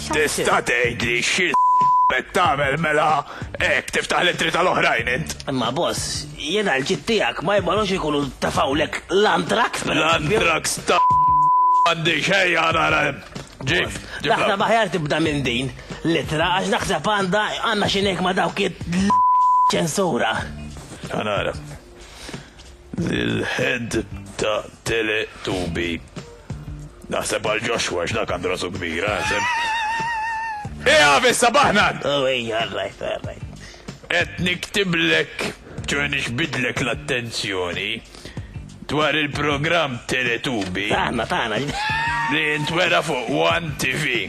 Tista' tgħidli xi qed tagħmel mela hekk tiftaħ l-ittri tal-oħrajn int. Imma boss, jiena l-ġid tiegħek ma jibgħalux ikunu tafawlek l-antrax per L-antrax ta' għandi xejja nara. Ġib, ġib. Daħna maħjar tibda minn din l-ittra għax naħseb għandha għandna xi ngħid ma' dawk ċensura. Għanara. L-head ta' tele tubi. Naħseb għal Joshua x'dak għandu rasu kbira, naħseb. Ija fissa baħnan! Oh, ija, rajt, rajt. Et niktiblek, ċoħe nixbidlek l-attenzjoni dwar il-program Teletubi. Taħna, taħna. Li jintwera fuq One TV.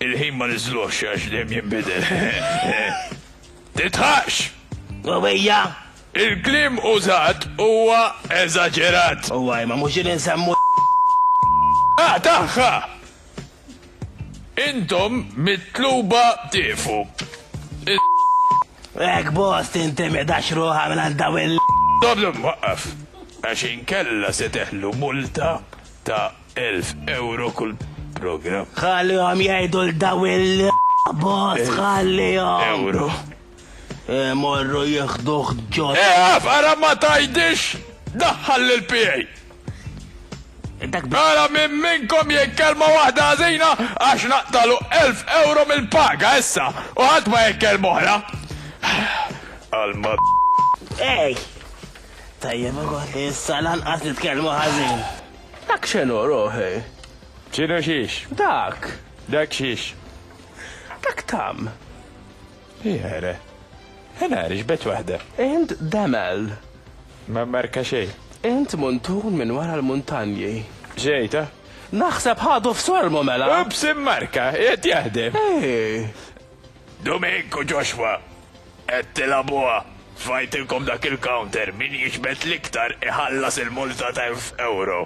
Il-ħin ma nizluħx għax dem jimbidel. Titħax! Għawija! Il-kliem użat huwa eżaġerat. Huwa imma mhux din insemmu l. A tagħha! Intom mitluba tieqfu. Is. Hekk boss tintimidax ruħha mingħand dawn il. Stop stop waqqaf għax inkella se teħlu multa ta' elf ewro kull programm. Ħallihom jgħidu 'l dawn il. Boss ħallihom. Ewro. Imorru jieħduh ġo. Ieqaf, ara ma tgħidix daħħal lill-PA. Dak bi. Ara min minnkom jgħid kelma waħda ħażina għax naqtagħlu elf ewro mill-paga issa u ħadd ma jgħid kelma oħra. Għall-mad. Ej! Tajjeb ukoll li issa lanqas nitkellmu ħażin. Dak x'inhu ruħi? X'inhu xiex? Dak. Dak xiex? Dak tam. Jere. Ena għarix bet wahda. Int demel. Ma marka xej. Int muntun minn wara l-muntanji. Xejta? Naħseb ħadu f'sormu mela. Ups immarka, qed jaħdem. Ej. Dumink u Joshua, qed tilabuha. Fajtilkom dak il-counter, min jiġbed l-iktar iħallas il-multa ta' 1000 euro.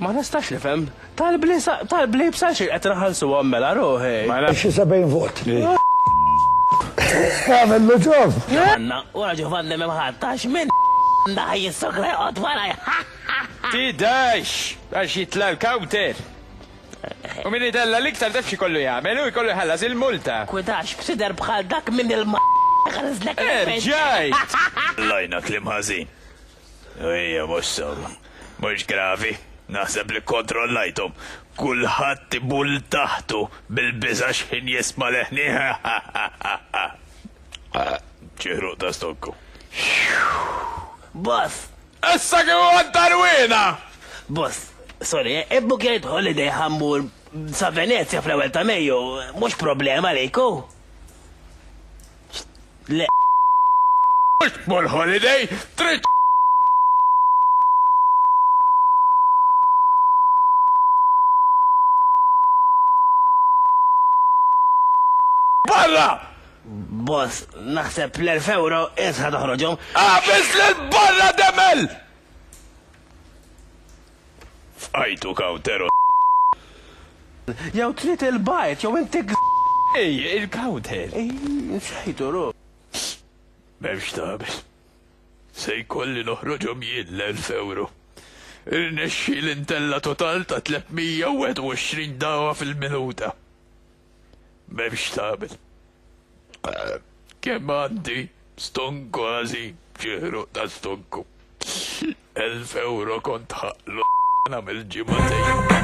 Ma nistax nifhem. Tal-bliebs għal xejn qed naħallsuhom mela ruħi. Xi 70 vot. Għamillu ġob! Ġovanna, wara Ġovanni m'hemm ħadd għax min da jissokra joqgħod warajja. Tidax! Għax jitla' l-counter. U min idella l-iktar taf xi kollu jagħmel u jkollu jħallas il-multa. Kwidax b'sider bħal dak minn il-ma. Erġajt! Lajna klim ħażin. Ejja, mhux sew. Mhux gravi. Naħseb li kkontrollajthom. Kulħadd ibul taħtu bil-biża' x'ħin jisma' leħni. Xi ħruq ta' stokku. Boss! Issa kif għad tarwina! Boss, sorry, eh, ibbuk jgħid holiday ħammur sa Venezia fl-ewwel ta' Mejju, mhux problema lejku. Le mhux tmur holiday, trid barra! Boss, naħseb l-1000 euro isħa toħroġhom. Għafis l-barra demel! F'għajtu Cowtero Jew trid il-bajt jew intik Ej, il-Cowter. Ej, insejtu ru. M'hemm x'tagħmel. Se jkolli noħroġhom jien l-elf ewro. Irnexxieli ntella' total ta' 321 dagħwa fil-minuta. M'hemm x'tagħmel. Kemm għandi stonku għażin, ġieħruq ta' stonku. Elf ewro kont ħaqq l nagħmel ġimgħatejn.